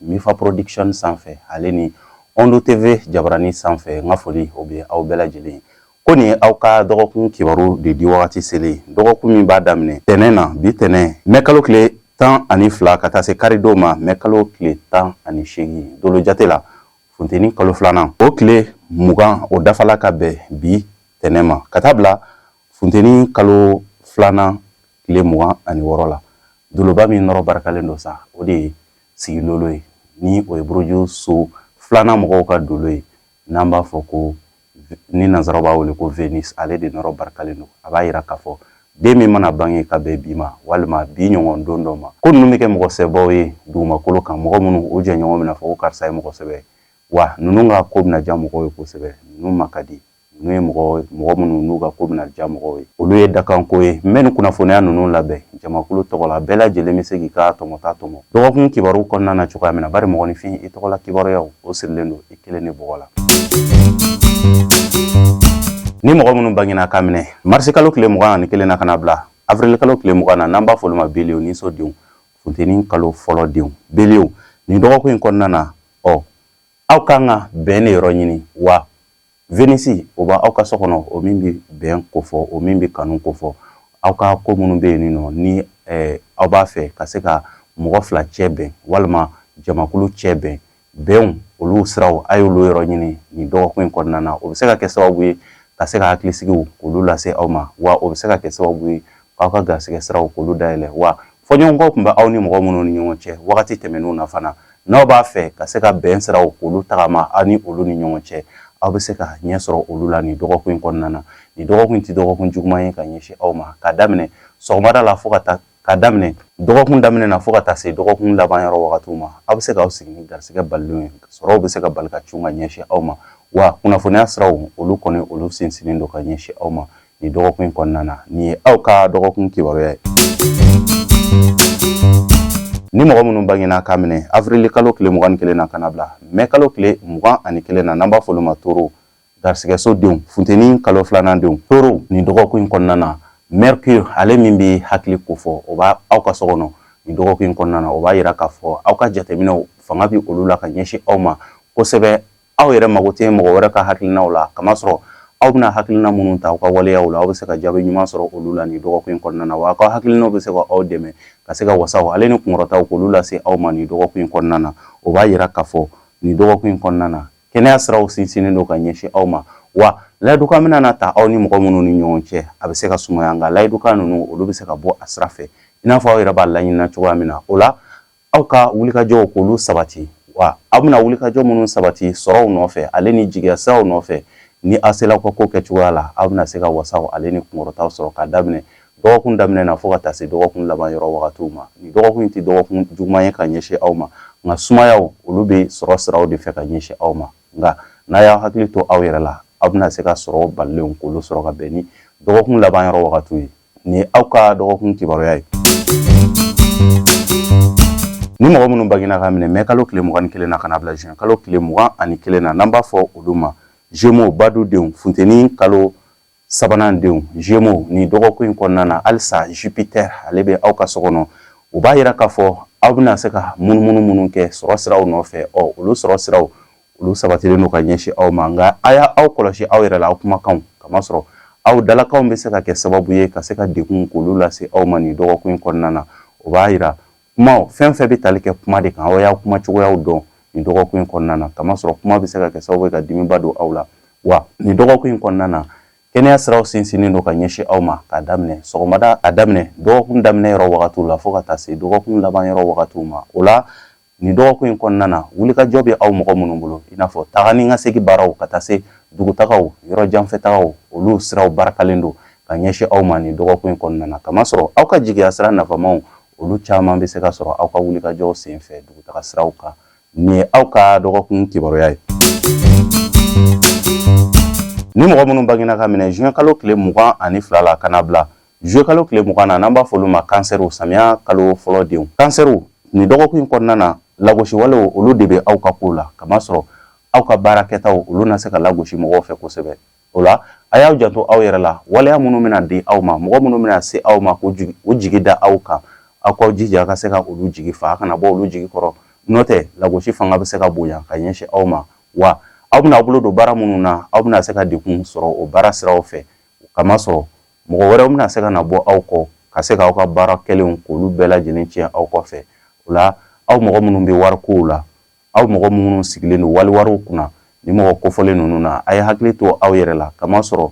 Mifa Production sanfɛ ale ni Ondo TV jabarani sanfɛ n ka foli o bɛ aw bɛɛ lajɛlen ko nin ye aw ka dɔgɔkun kibaru de di wagati selen dɔgɔkun min b'a daminɛ tɛnɛn na bi tɛnɛn mɛ kalo tile tan ani fila ka taa se karidon ma mɛ kalo tile tan ani seegin dolo jate la funteni kalo filanan o tile mugan o dafala ka bɛn bi tɛnɛn ma ka taa bila funteni kalo filanan tile mugan ani wɔɔrɔ la doloba min nɔrɔ barikalen don sa o de ye sigilolo ye ni o ye buruju so filanan mɔgɔw ka dolo ye n'an b'a fɔ ko ni nanzaraw b'a wele ko vénus ale de nɔrɔ barikalen don a b'a yira k'a fɔ den min mana bange ka bɛn bi ma walima bi ɲɔgɔn don dɔ ma ko ninnu bɛ kɛ mɔgɔ sɛbɛbaw ye dugumakolo kan mɔgɔ minnu u jɛɲɔgɔn bɛna fɔ ko karisa ye mɔgɔ sɛbɛ wa ninnu ka ko bɛna diya mɔgɔw ye kosɛbɛ ninnu ma ka di N'u ye mɔgɔ mɔgɔ minnu n'u ka ko bɛna diya mɔgɔw ye olu ye dakanko ye n bɛ nin kunnafoniya ninnu labɛn jamakulu tɔgɔ la bɛɛ lajɛlen bɛ se k'i ka tɔmɔta tɔmɔ dɔgɔkun kibaru kɔnɔna na cogoya min na bari mɔgɔninfin i tɔgɔla kibaruyaw o sirilen don i kelen de bɔgɔ la ni mɔgɔ minnu bangina ka minɛ marisikalo tile mugan ani kelen na ka na bila avirilikalo tile mugan na n'an b'a fɔ olu ma bélier niso denw funteni kalo fɔlɔ denw bélier nin dɔgɔkun in kɔnɔna na ɔ aw kan ka bɛn de yɔrɔ ɲini wa venisi o b'aw ka so kɔnɔ o min bɛ bɛn kofɔ o min bɛ kanu kofɔ aw ka ko minnu bɛ yen nɔ ni aw b'a fɛ ka se ka mɔgɔ fila cɛ bɛn walima jamakulu cɛ bɛn bɛnw olu siraw a y'olu yɔrɔ ɲini nin dɔgɔkun in kɔnɔna na o bɛ se ka kɛ sababu ye ka se ka hakilisigiw olu lase aw ma wa o bɛ se ka kɛ sababu ye aw ka garisɛgɛ siraw k'olu dayɛlɛ wa fɔɲɔgɔnkɔ tun bɛ aw ni mɔgɔ minnu ni ɲɔgɔn cɛ wagati tɛmɛnenw na fana n'aw b'a fɛ ka se ka bɛn siraw k'olu tagama aw ni olu ni ɲɔgɔn cɛ aw bɛ se ka ɲɛ sɔrɔ olu la nin dɔgɔkun in kɔnɔna na nin dɔgɔkun in tɛ dɔgɔkun juguman ye ka ɲɛsin aw ma ka daminɛ sɔgɔmada la fo ka taa ka daminɛ dɔgɔkun daminɛ na fo ka taa se dɔgɔkun laban yɔrɔ wagatiw ma aw bɛ se k'aw sigi ni garisigɛ balilenw ye sɔrɔw bɛ se ka bali ka cun ka ɲɛsin aw ma wa kunnafoniya siraw olu kɔni olu sinsinnen don ka ɲɛsin aw ma nin dɔgɔkun in kɔnɔna na nin ye aw ka dɔgɔkun kibaruya ye ni mɔgɔ minnu bangena ka minɛ avrili kalo tile mugan ni kelen na ka na bila mɛ kalo tile mugan ani kelen na n'an b'a fɔ olu ma toro garisigɛso denw funteni kalo filanan denw toro nin dɔgɔkun in kɔnɔna na mercure ale min bɛ hakili kofɔ o b'aw ka so kɔnɔ nin dɔgɔkun in kɔnɔna na o b'a yira k'a fɔ aw ka jateminɛw fanga bɛ olu la ka ɲɛsin aw ma kosɛbɛ aw yɛrɛ mago tɛ mɔgɔ wɛrɛ ka hakilinaw la kamasɔrɔ aw bɛna hakilina minnu ta aw ka waleya la aw bɛ se ka jaabi ɲuman sɔrɔ olu la nin dɔgɔkun in kɔnɔna na wa aw ka hakilinaw bɛ se ka aw dɛmɛ ka se ka wasaw ale ni kunkɔrɔtaw k'olu lase aw ma nin dɔgɔkun in kɔnɔna na o b'a yira k'a fɔ nin dɔgɔkun in kɔnɔna na kɛnɛya siraw sinsinnen don ka ɲɛsin aw ma wa layidukan mana ta aw ni mɔgɔ minnu ni ɲɔgɔn cɛ a bɛ se ka sumaya nka layidukan ninnu olu bɛ se ka bɔ a sira fɛ i n'a fɔ aw yɛrɛ b'a laɲinina cogoya min na o la aw ka wulikajɔw k'olu sabati wa aw bɛna wulikajɔ minnu sabati sɔrɔw nɔfɛ ale ni jigiya siraw nɔfɛ ni aw sela ka ko kɛcogoya la aw bɛna se ka wasaw ale ni kunkɔrɔtaw sɔrɔ ka daminɛ dɔgɔkun daminɛ na fo ka taa se dɔgɔkun laban yɔrɔ wagatiw ma nin dɔgɔkun in tɛ dɔgɔkun juguman ye ka ɲɛsin aw ma nka sumayaw olu bɛ sɔrɔ siraw de fɛ ka ɲɛsin aw ma nka n'a y'aw hakili to aw yɛrɛ la aw bɛna se ka sɔrɔ balilenw k'olu sɔrɔ ka bɛn ni dɔgɔkun laban yɔrɔ wagatiw ye nin ye aw ka dɔgɔkun kibaruya ye ni mɔgɔ minnu bangena ka minɛ mɛ kalo tile mugan ni kelen na ka na bila juin kalo tile mugan ani kelen na n'an b'a fɔ olu ma Gémeaux badudenw funteni kalo sabanan denw Gémeaux nin dɔgɔkun in kɔnɔna na halisa Jupiter ale bɛ aw ka so kɔnɔ o b'a yira k'a fɔ aw bɛna se ka munumunu minnu kɛ sɔrɔ siraw nɔfɛ ɔ olu sɔrɔ siraw olu sabatilen don ka ɲɛsin aw ma nka a y'aw kɔlɔsi aw yɛrɛ la aw kumakanw kamasɔrɔ aw dalakanw bɛ se ka kɛ sababu ye ka se ka degun k'olu lase aw ma nin dɔgɔkun in kɔnɔna na o b'a yira kumaw fɛn fɛn bɛ tali kɛ kuma de kan aw y'a kuma cogoyaw dɔn nin dɔgɔkun in kɔnɔna na kamasɔrɔ kuma bɛ se ka kɛ sababu ye ka dimiba don aw la wa nin dɔgɔkun in kɔnɔna na kɛnɛya siraw sinsinnen don ka ɲɛsin aw ma k'a daminɛ sɔgɔmada a daminɛ dɔgɔkun daminɛ yɔrɔ wagatiw la fo ka taa se dɔgɔkun laban yɔrɔ wagatiw ma o la Nin dɔgɔkun in kɔnɔna na, wulikajɔ bɛ aw mɔgɔ minnu bolo, i n'a fɔ taga ni ka segin baaraw ka taa se dugutagaw, yɔrɔjanfɛtagaw, olu siraw barakalen don ka ɲɛsin aw ma nin dɔgɔkun in kɔnɔna na, kamasɔrɔ aw ka jigiyasira nafamaw, olu caman bɛ se ka sɔrɔ aw ka wulikajɔw senfɛ dugutagasiraw kan. Nin ye aw ka dɔgɔkun kibaruya ye. Ni mɔgɔ minnu bangena ka minɛ juin kalo tile mugan ani fila la ka na bila Juillet kalo tile mugan na n'an b'a fɔ olu ma kansɛriw samiya kalo fɔlɔ denw kansɛriw nin dɔgɔkun in kɔnɔna na lagosiwalew olu de bɛ aw ka kow la kamasɔrɔ aw ka baara kɛtaw olu na se ka lagosi mɔgɔw fɛ kosɛbɛ o la a y'aw janto aw yɛrɛ la waleya minnu bɛna di aw ma mɔgɔ minnu bɛna se aw ma k'u jigi da aw kan aw k'aw jija ka se ka olu jigi fa a kana bɔ olu jigi kɔrɔ n'o tɛ lagosi fanga bɛ se ka bonya ka ɲɛsin aw ma wa aw bɛna aw bolo don baara minnu na aw bɛna se ka degun sɔrɔ o baara siraw fɛ kamasɔrɔ mɔgɔ wɛrɛw bɛna se ka na bɔ aw kɔ ka se k'aw ka baara kɛlenw k'olu bɛɛ lajɛlen tiɲɛ aw kɔfɛ o la aw mɔgɔ minnu bɛ warikow la aw mɔgɔ minnu sigilen don waliwariw kunna ni mɔgɔ kofɔlen ninnu na a ye hakili to aw yɛrɛ la kamasɔrɔ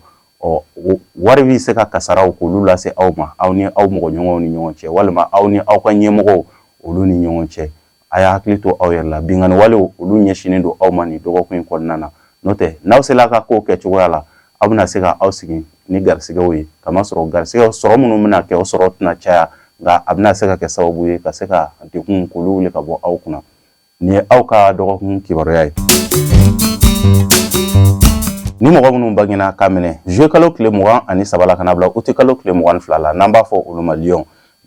wari bɛ se ka kasaraw k'olu lase aw ma aw ni aw mɔgɔ ɲɔgɔn ni ɲɔgɔn cɛ walima aw ni aw ka ɲɛmɔgɔw olu ni ɲɔgɔn cɛ a y'aw hakili to aw yɛrɛ la binkanni walew olu ɲɛsinnen don aw ma nin dɔgɔkun in kɔnɔna na n'o tɛ n'aw sela ka kow kɛcogoya la aw bɛna se ka aw sigi ni garisigɛw ye kamasɔrɔ garisigɛw sɔrɔ minnu bɛna kɛ o sɔrɔ tɛna caya nka a bɛna se ka kɛ sababu ye ka se ka degun k'olu wuli ka bɔ aw kunna nin ye aw ka dɔgɔkun kibaruya ye ni mɔgɔ minnu bangena ka minɛ juillet kalo tile mugan ani saba ka na bila août kalo tile mugan ani fila la n'an b'a fɔ olu ma liy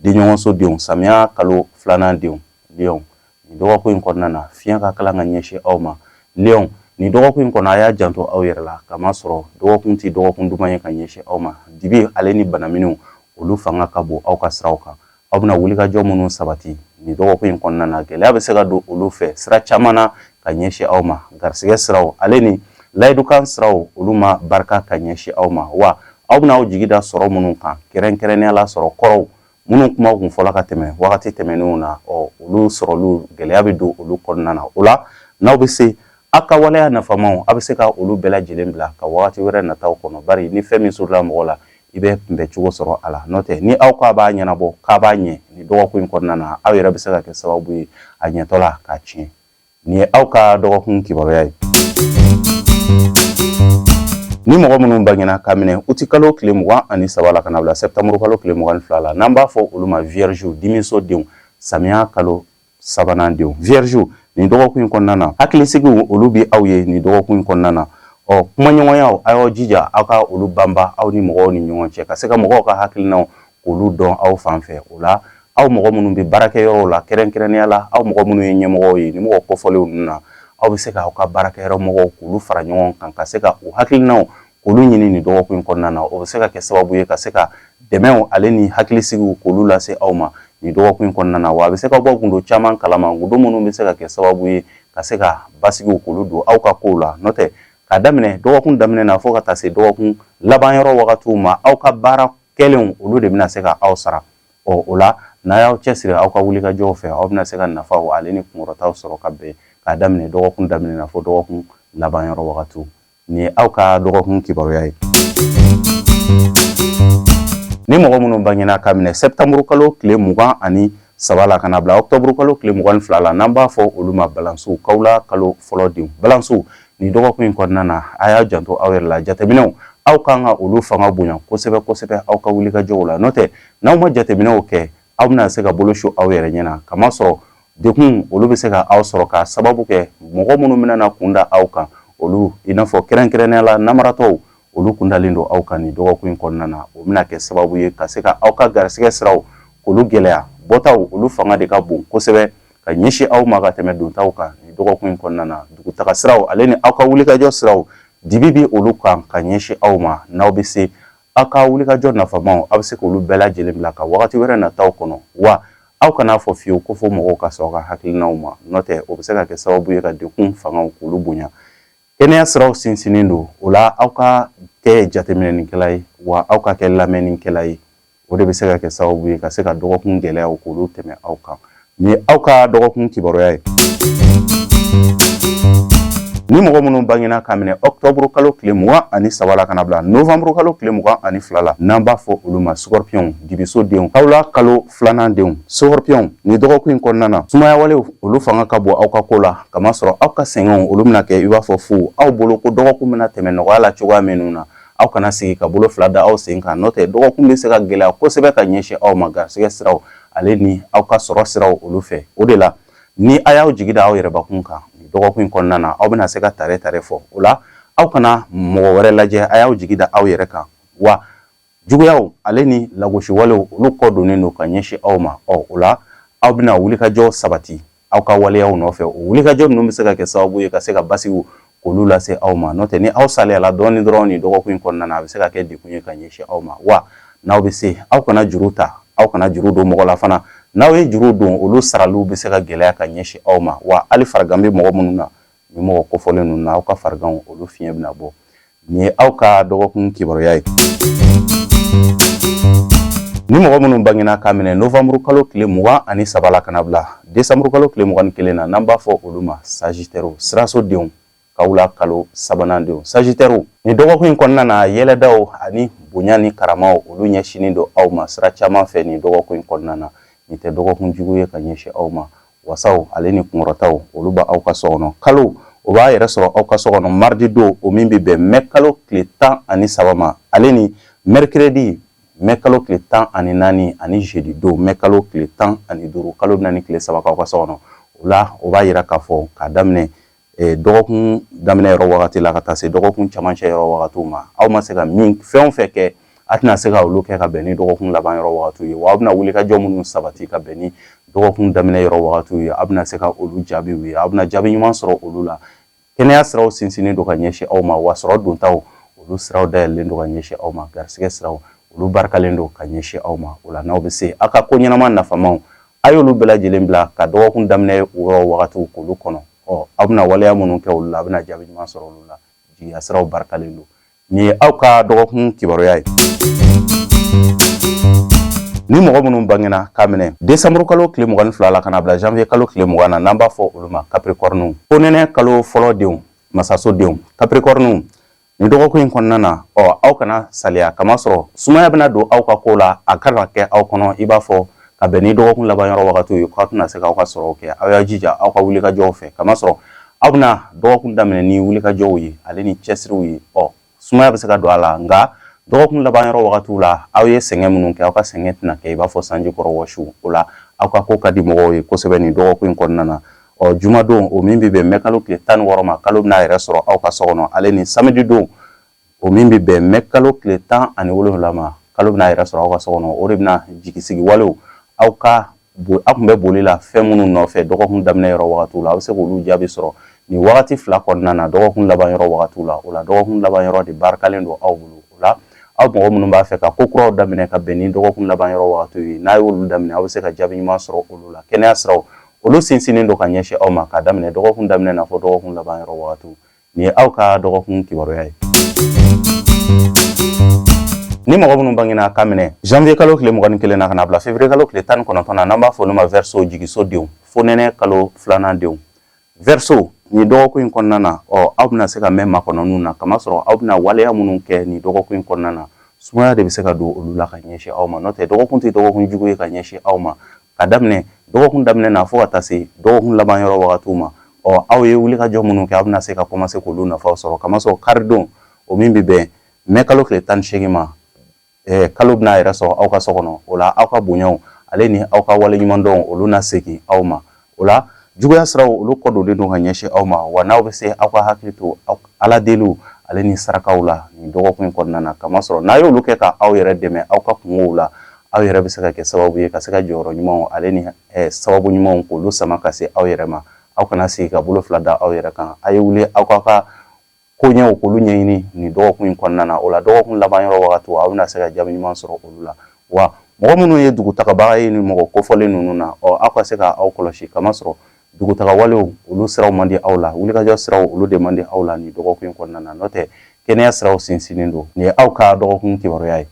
denɲɔgɔnso denw samiya kalo filanan denw liyɔn nin dɔgɔkun in kɔnɔna na fiɲɛ ka kalan ka ɲɛsin aw ma liyɔn nin dɔgɔkun in kɔnɔ a y'a janto aw yɛrɛ la k'a masɔrɔ dɔgɔkun tɛ dɔgɔkun duman ye ka ɲɛsin aw ma dibi ale ni banaminɛw olu fanga ka bon aw ka siraw kan aw bɛna wulikajɔ minnu sabati nin dɔgɔkun in kɔnɔna na gɛlɛya bɛ se ka don olu fɛ sira caman na ka ɲɛsin aw ma garisigɛ siraw ale ni layidukan siraw olu ma barika ka ɲɛsin aw ma wa aw bɛna aw jigi da sɔrɔ minnu kan kɛrɛnkɛrɛnnenya la sɔrɔ kɔrɔw minnu kuma kun fɔla ka tɛmɛ wagati tɛmɛnenw na ɔ olu sɔrɔli gɛlɛya bɛ don olu kɔnɔna na o la n'aw bɛ se aw ka waleya nafamaw aw bɛ se ka olu bɛɛ lajɛlen bila ka wagati wɛrɛ nataw kɔnɔ bari ni fɛn min surula mɔgɔ la i bɛ kunbɛ cogo sɔrɔ a la n'o tɛ ni aw k'a b'a ɲɛnabɔ k'a b'a ɲɛ nin dɔgɔkun in kɔnɔna na aw yɛrɛ bɛ se ka kɛ sababu ye a ɲɛtɔ la k'a tiɲɛ Nin ye aw ka dɔgɔkun kibaruya ye ni mɔgɔ minnu bangena k'a minɛ uti kalo tile mugan ani saba la ka na bila sɛptanburu kalo tile mugan ni fila la n'an b'a fɔ olu ma viyɛrizi dimiso denw samiya kalo sabanan denw viyɛrizi nin dɔgɔkun in kɔnɔna na hakilisigiw olu bɛ aw ye nin dɔgɔkun in kɔnɔna na ɔ kumaɲɔgɔnyaw a y'aw jija aw ka olu banba aw ni mɔgɔw ni ɲɔgɔn cɛ ka se ka mɔgɔw ka hakilinaw k'olu dɔn aw fan fɛ o la aw mɔgɔ minnu bɛ baarakɛyɔrɔw la kɛrɛnkɛrɛnnenya la aw mɔgɔ minnu ye ɲɛmɔgɔw ye ni mɔgɔ kɔfɔlenw ninnu na aw bɛ se k'aw ka baarakɛyɔrɔ mɔgɔw k'olu fara ɲɔgɔn kan ka se ka u hakilinaw k'olu ɲini nin dɔgɔkun in kɔnɔna na o bɛ se ka kɛ sababu ye ka se ka dɛmɛw ale ni hakilisigiw k'olu lase aw ma nin dɔgɔkun in kɔnɔna na wa a bɛ se ka bɔ gundo caman kalama gundo minnu bɛ se ka kɛ sababu ye ka se ka basigiw k'olu don aw ka kow la n'o tɛ k'a daminɛ dɔgɔkun daminɛ na fo ka taa se dɔgɔkun laban yɔrɔ wagatiw ma aw ka baara kɛlenw olu de bɛna se ka aw sara ɔ o la n'a y'aw cɛsiri aw ka wulikajɔw fɛ aw bɛna se ka nafaw ale ni kunkɔrɔtaw sɔrɔ ka bɛn k'a daminɛ dɔgɔkun daminɛ na fo dɔgɔkun laban yɔrɔ wagatiw nin ye aw ka dɔgɔkun kibaruya ye ni mɔgɔ minnu bangena k'a minɛ sɛptanburu kalo tile mugan ani saba la ka na bila ɔktɔburu kalo tile mugan ni fila la n'an b'a fɔ olu ma balansiw kawla kalo fɔlɔ denw balansiw nin dɔgɔkun in kɔnɔna na a y'a janto aw yɛrɛ la jateminɛw aw kan ka olu fanga bonya kosɛbɛ kosɛbɛ aw ka wulikajɔw la n'o tɛ n'aw ma jateminɛw kɛ aw bɛna se ka bolo su aw yɛrɛ ɲɛ na k'a masɔrɔ dekun olu bɛ se ka aw sɔrɔ ka sababu kɛ mɔgɔ minnu bɛna kun da aw kan olu i n'a fɔ kɛrɛnkɛrɛnnenya la namaratɔw olu kundalen don aw kan nin dɔgɔkun in kɔnɔna na o bɛna kɛ sababu ye ka se ka aw ka garisɛgɛ siraw k'olu gɛlɛya bɔtaw olu fanga de ka bon kosɛbɛ ka ɲɛsin aw ma ka tɛmɛ dontaw kan nin dɔgɔkun in kɔnɔna na dugutaga siraw ale ni aw ka wulikajɔ siraw dibi bɛ olu kan ka ɲɛsin aw ma n'aw bɛ se aw ka wulikajɔ nafamaw aw bɛ se k'olu bɛɛ lajɛlen bila ka wagati wɛrɛ nataw kɔnɔ wa aw kana a fɔ fiyewu ko fo mɔgɔw ka sɔn aw ka hakilinaw ma n'o tɛ o bɛ se ka kɛ sababu ye ka dekun fangaw k'olu bonya Kɛnɛya siraw sinsinnen don o la aw ka kɛ jateminɛnikɛla ye wa aw ka kɛ lamɛnnikɛla ye o de bɛ se ka kɛ sababu ye ka se ka dɔgɔkun gɛlɛyaw k'olu tɛmɛ aw kan nin ye aw ka dɔgɔkun kibaruya ye ni mɔgɔ minnu bangena k'a minɛ octobre kalo tile mugan ani saba la ka na bila novembre kalo tile mugan ani fila la n'an b'a fɔ olu ma scorpionw dibiso denw kawula kalo filanan denw scorpionw nin dɔgɔkun in kɔnɔna na sumaya walew olu fanga ka bon aw ka ko la k'a masɔrɔ aw ka sɛgɛnw olu bɛna kɛ i b'a fɔ fu aw bolo ko dɔgɔkun bɛna tɛmɛ nɔgɔya la cogoya minnu na aw kana sigi ka bolo fila da aw sen kan n'o tɛ dɔgɔkun bɛ se ka gɛlɛya kosɛbɛ ka ɲɛsin aw ma garisɛgɛ siraw ale ni aw ka sɔrɔ siraw olu fɛ o de la ni a y'aw jigi da aw yɛrɛbakun kan nin dɔgɔkun in kɔnɔna na aw bɛna se ka tare tare fɔ o la aw kana mɔgɔ wɛrɛ lajɛ a y'aw jigi da aw yɛrɛ kan wa juguyaw ale ni lagosi walew olu kɔ donnen don ka ɲɛsin aw ma ɔ o la aw bɛna wulikajɔ sabati aw ka waleyaw nɔfɛ o wulikajɔ ninnu bɛ se ka kɛ sababu ye ka se ka basigiw k'olu lase aw ma n'o tɛ ni aw saliyala dɔɔnin dɔrɔn nin dɔgɔkun in kɔnɔna na a bɛ se ka kɛ degun ye ka ɲɛsin aw ma wa n'aw bɛ se aw kana juru ta aw kana juru don mɔgɔ la fana n'aw ye juru don olu saraliw bɛ se ka gɛlɛya ka ɲɛsin aw ma wa hali farigan bɛ mɔgɔ minnu na nin mɔgɔ kofɔlen ninnu na aw ka fariganw olu fiɲɛ bɛna bɔ nin ye aw ka dɔgɔkun kibaruya ye ni mɔgɔ minnu bangena k'a minɛ novembre kalo tile mugan ani saba la ka na bila décembre kalo tile mugan ni kelen na n'an b'a fɔ olu ma sagitɛriw siraso denw kawula kalo sabanan denw sagitɛriw nin dɔgɔkun in kɔnɔna na yɛlɛdaw ani bonya ni karamaw olu ɲɛsinin don aw ma sira caman fɛ nin dɔgɔkun in kɔnɔna na nin tɛ dɔgɔkun jugu ye ka ɲɛsin aw ma wasaw ale ni kunkɔrɔtaw olu b'aw ka so kɔnɔ kalo o b'a yɛrɛ sɔrɔ aw ka so kɔnɔ maridi don o min bɛ bɛn mɛ kalo tile tan ani saba ma ale ni mɛrikɛrɛdi mɛ kalo tile tan ani naani ani zedi don mɛ kalo tile tan ani duuru kalo bɛna nin tile saba k'aw ka so kɔnɔ o la o b'a yira k'a fɔ k'a daminɛ eh, dɔgɔkun daminɛ yɔrɔ wagati la ka taa se dɔgɔkun camancɛ yɔrɔ wagatiw ma aw ma se ka min fɛn o fɛn kɛ a tɛna se ka olu kɛ ka bɛn ni dɔgɔkun laban yɔrɔ wagatiw ye wa aw bɛna wulikajɔ minnu sabati ka bɛn ni dɔgɔkun daminɛ yɔrɔ wagatiw ye aw bɛna se ka olu jaabiw ye aw bɛna jaabi ɲuman sɔrɔ olu la kɛnɛya siraw sinsinnen don ka ɲɛsin aw ma wa sɔrɔ dontaw olu siraw dayɛlɛlen don ka ɲɛsin aw ma garisigɛ siraw olu barikalen don ka ɲɛsin aw ma o la n'aw bɛ se aw ka ko ɲɛnama nafamaw A y'olu bɛɛ lajɛlen bila ka dɔgɔkun daminɛ yɔrɔ wagatiw k'olu kɔnɔ ɔ aw bɛna waleya minnu kɛ olu la a bɛna jaabi ɲuman sɔrɔ olu la jigiya siraw barikalen don nin ye aw ka dɔgɔkun kibaruya ye ni mɔgɔ minnu bangena k'a minɛ décembre kalo tile mugan ni fila la ka na bila janvier kalo tile mugan na n'an b'a fɔ olu ma kapirikɔrɔniw fonɛnɛ kalo fɔlɔ denw masaso denw kapirikɔrɔniw Nin dɔgɔkun in kɔnɔna na ɔ aw kana saliya kamasɔrɔ sumaya bɛna don aw ka ko la a kana kɛ aw kɔnɔ i b'a fɔ ka bɛn ni dɔgɔkun laban yɔrɔ wagati ye k'aw tɛna se k'aw ka sɔrɔ kɛ aw y'a jija aw ka wulikajɔw fɛ kamasɔrɔ aw bɛna dɔgɔkun daminɛ ni wulikajɔw ye ale ni cɛsiriw ye ɔ sumaya bɛ se ka don a la nka dɔgɔkun laban yɔrɔ wagati la aw ye sɛgɛn minnu kɛ aw ka sɛgɛn tɛna kɛ i b'a fɔ sanji kɔrɔ wɔsi o la aw ka ko ka di mɔgɔw ye kosɛbɛ nin dɔgɔkun in kɔnɔna na ɔ jumadon o min bɛ bɛn mɛ kalo tile tan ni wɔɔrɔ ma kalo bɛna yɛrɛ sɔrɔ aw ka so kɔnɔ ale ni samedi don o min bɛ bɛn mɛ kalo tile tan ani wolowula ma kalo bɛna yɛrɛ sɔrɔ aw ka so kɔnɔ o de bɛna jigisigi walew aw ka aw tun bɛ boli la fɛn minnu nɔfɛ dɔgɔkun daminɛ yɔrɔ wagati la aw bɛ se k'olu jaabi sɔrɔ nin wagati fila kɔnɔna na dɔgɔkun laban yɔrɔ wagati la o la dɔgɔkun laban yɔrɔ de barikalen don aw bolo o la aw mɔgɔ minnu b'a fɛ ka ko kuraw daminɛ ka bɛn ni dɔgɔkun laban yɔrɔ wagati ye n'a y'olu daminɛ aw bɛ se ka jaabi ɲuman sɔrɔ olu la kɛnɛya siraw olu sinsinnen don ka ɲɛsin aw ma k'a daminɛ dɔgɔkun daminɛ na fo dɔgɔkun laban yɔrɔ wagatiw nin ye aw ka dɔgɔkun kibaruya ye ni mɔgɔ minnu bangena ka minɛ janvier kalo tile mugan ni kelen na ka na bila février kalo tile tan ni kɔnɔntɔn na n'an b'a fɔ olu ma verseau jigiso denw fonɛnɛ kalo filanan denw verseau nin dɔgɔkun in kɔnɔna na ɔ aw bɛna se ka mɛn makɔnɔninw na kamasɔrɔ aw bɛna waleya minnu kɛ nin dɔgɔkun in kɔnɔna na sumaya de bɛ se ka don olu la ka ɲɛsin aw ma n'o tɛ dɔgɔkun tɛ dɔgɔkun jugu ye ka ɲɛsin aw ma ka daminɛ dɔgɔkun daminɛ na fo ka taa se dɔgɔkun laban yɔrɔ wagatiw ma ɔ aw ye wulikajɔ minnu kɛ aw bɛna se ka kɔmanse k'olu nafaw sɔrɔ kamasɔrɔ karidon o min bɛ bɛn mɛ kalo tile tan ni seegin ma kalo bɛna yɛrɛ sɔrɔ aw ka so kɔnɔ o la aw ka bonyaw ale ni aw ka waleɲumandɔn olu na segin aw ma o la juguya siraw olu kɔdonnen don ka ɲɛsin aw ma wa n'aw bɛ se aw ka hakili to ala deliw ale ni sarakaw la nin dɔgɔkun in kɔnɔna na kamasɔrɔ n'a y'olu kɛ ka aw yɛrɛ dɛmɛ aw ka kunkow la aw yɛrɛ bɛ se ka kɛ sababu ye ka se ka jɔyɔrɔ ɲumanw ale ni sababu ɲumanw k'olu sama ka se aw yɛrɛ ma aw kana sigi ka bolo fila da aw yɛrɛ kan a ye wuli aw k'aw ka koɲɛw k'olu ɲɛɲini nin dɔgɔkun in kɔnɔna na o la dɔgɔkun laban yɔrɔ wagati aw bɛna se ka jaabi ɲuman sɔrɔ olu la wa mɔgɔ minnu ye dugutagabaga ye ni mɔgɔ kofɔlen ninnu na ɔ aw ka se ka aw kɔlɔsi kamasɔrɔ dugutagawalew olu siraw man di aw la wulikajɔ siraw olu de man di aw la nin dɔgɔkun in kɔnɔna na n'o tɛ kɛnɛya siraw sinsinnen don nin ye aw ka dɔgɔkun kibaruya ye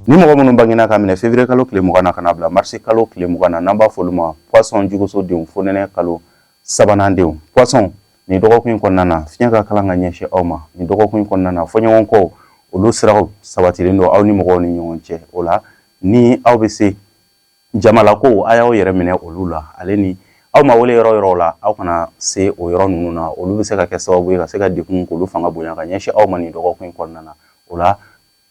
ni mɔgɔ minnu bangena ka minɛ février kalo tile mugan na ka na bila marisi kalo tile mugan na n'an b'a fɔ olu ma poisson juguso denw fonɛnɛ kalo sabanan denw poisson nin dɔgɔkun in kɔnɔna na fiɲɛ ka kalan ka ɲɛsin aw ma nin dɔgɔkun in kɔnɔna na fɔɲɔgɔnkɔw olu siraw sabatilen don aw ni mɔgɔw ni ɲɔgɔn cɛ o la ni aw bɛ se jamalakow a y'aw yɛrɛ minɛ olu la ale ni aw ma wele yɔrɔ o yɔrɔ la aw kana se o yɔrɔ ninnu na olu bɛ se ka kɛ sababu ye ka se ka degun k'olu fanga bonya ka ɲɛsin aw ma nin dɔgɔkun in kɔnɔna na o la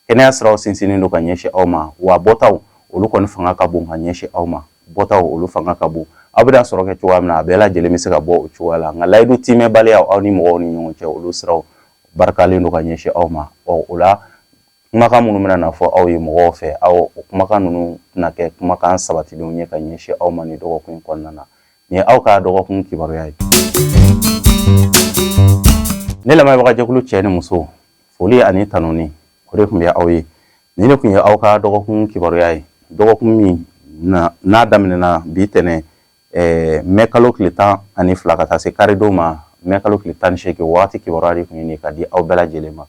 kɛnɛya siraw sinsinnen don ka ɲɛsin aw ma wa bɔtaw olu kɔni fanga ka bon ka ɲɛsin aw ma bɔtaw olu fanga ka bon aw bɛna sɔrɔ kɛ cogoya min na a bɛɛ lajɛlen bɛ se ka bɔ o cogoya la nka layidu tiimɛbaliya aw ni mɔgɔw ni ɲɔgɔn cɛ olu siraw barikalen don ka ɲɛsin aw ma ɔ o la kumakan minnu bɛna na fɔ aw ye mɔgɔw fɛ aw o kumakan ninnu tɛna kɛ kumakan sabatilenw ye ka ɲɛsin aw ma nin dɔgɔkun kɔnɔna na nin ye aw ka dɔgɔkun kibaruya ye ne lamɛnbagajɛkulu cɛ ni muso foli ani tanuni o de tun bɛ aw ye nin de tun ye aw ka dɔgɔkun kibaruya ye dɔgɔkun min n'a daminɛna bi tɛnɛn Eh, mɛ kalo tile tan ani fila ka taa se karidon ma mɛ kalo tile tan ni seegin waati kibaruya de tun ye nin ka di aw bɛɛ lajɛlen ma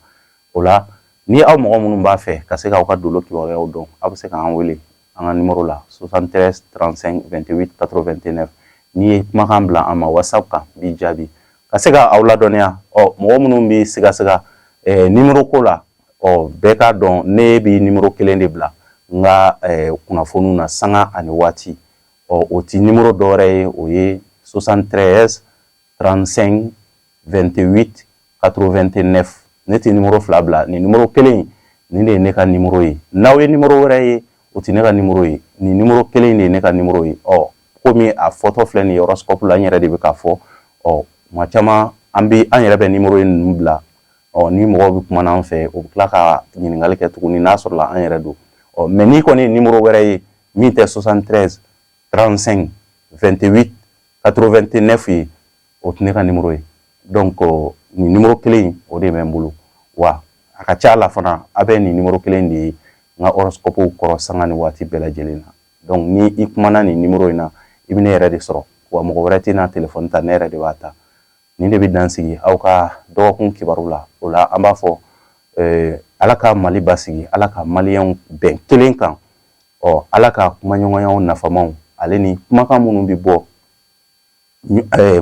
O la ni aw mɔgɔ minnu b'a fɛ ka se k'aw ka dolo kibaruyaw dɔn aw bɛ se k'an wele an ka nimoro la 73 35 28 89 n'i ye kumakan bila an ma whatsapp kan n b'i jaabi ka se ka aw ladɔnniya ɔ mɔgɔ minnu bɛ sigasiga eh, nimoro ko la ɔ bɛɛ k'a dɔn ne bɛ nimoro kelen de bila n ka eh, kunnafoniw na sanga ani waati ɔ o ti nimoro dɔwɛrɛ ye o ye 73 35 28 89 ne tɛ nimoro fila bila nin nimoro kelen nin de ye ne ka nimoro ye n'aw ye nimoro wɛrɛ ye o tɛ ne ka nimoro ye nin nimoro kelen de ye ne ka nimoro ye ɔ komi a fɔtɔ filɛ nin ye ɔrɔsikɔpu la n yɛrɛ de bɛ k'a fɔ tuma caman an bɛ an yɛrɛ bɛ nimoro ye ninnu bila ɔ ni mɔgɔw bɛ kuma an fɛ o bɛ tila ka ɲininkali kɛ tuguni n'a sɔrɔla an yɛrɛ don ɔ mɛ n'i kɔni ye nimoro wɛrɛ ye min tɛ 73 35 28 89 ye o tɛ ne ka nimoro ye dɔnku nin nimoro kelen in o de bɛ n bolo wa a ka ca la fana a bɛ nin nimoro kelen de ye n ka ɔrɔsikɔpuw kɔrɔ sanga ni waati bɛɛ lajɛlen na dɔnku ni i kumana nin nimoro in na i bɛ ne yɛrɛ de sɔrɔ wa mɔgɔ wɛrɛ tɛna telefɔni ta ne yɛrɛ de b'a ta nin de bɛ dan sigi aw ka dɔgɔkun kibaru la o la an b'a fɔ eh, ala ka mali basigi ala ka maliyɛnw bɛn kelen kan ɔ ala ka kumaɲɔgɔnyaw nafamaw ale ni kumakan minnu bɛ bɔ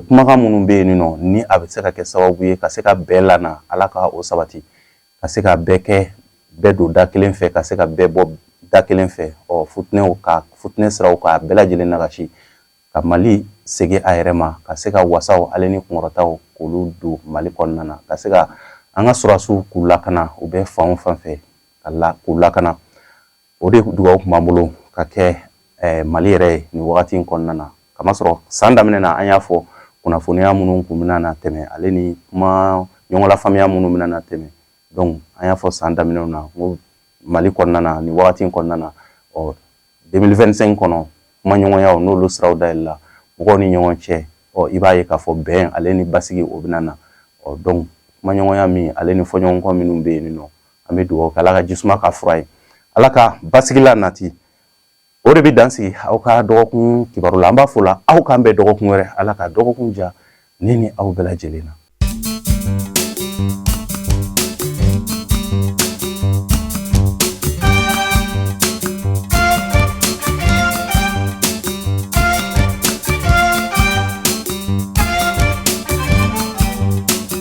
kumakan minnu bɛ yen nɔ ni a bɛ se ka kɛ sababu ye ka se ka bɛn lana ala ka o sabati ka se ka bɛɛ kɛ bɛɛ don da kelen fɛ ka se ka bɛɛ bɔ da kelen fɛ ɔ futinɛ sira ka bɛɛ lajɛlen nagasi ka mali segin a yɛrɛ ma ka se ka wasaw ale ni kunkɔrɔtaw k'olu don mali kɔnɔna na ka se ka an ka sɔrɔdasiw k'u lakana u bɛ fan o fan fɛ ka la k'u lakana o de dugawu kun b'an bolo ka kɛ eh, mali yɛrɛ ye nin wagati in kɔnɔna na kamasɔrɔ san daminɛ na an y'a fɔ kunnafoniya minnu kun bɛna na tɛmɛ ale ni kuma ɲɔgɔnlafaamuya minnu bɛna na tɛmɛ donc an y'a fɔ san daminɛw na ko mali kɔnɔna na nin wagati in kɔnɔna na ɔ 2025 kɔnɔ kuma ɲɔgɔnyaw n'olu siraw dayɛlɛla mɔgɔw ni ɲɔgɔn cɛ ɔ i b'a ye k'a fɔ bɛn ale ni basigi o bɛna na ɔ donc kuma ɲɔgɔnya min ale ni fɔɲɔgɔnkɔ minnu bɛ yen nɔ an bɛ dugawu kɛ ala ka jisuma ka fura ye ala ka basigila nati o de bɛ dan sigi aw ka dɔgɔkun kibaru la an b'a fɔ la aw k'an bɛn dɔgɔkun wɛrɛ ala ka dɔgɔkun ja ne ni aw bɛɛ lajɛlen na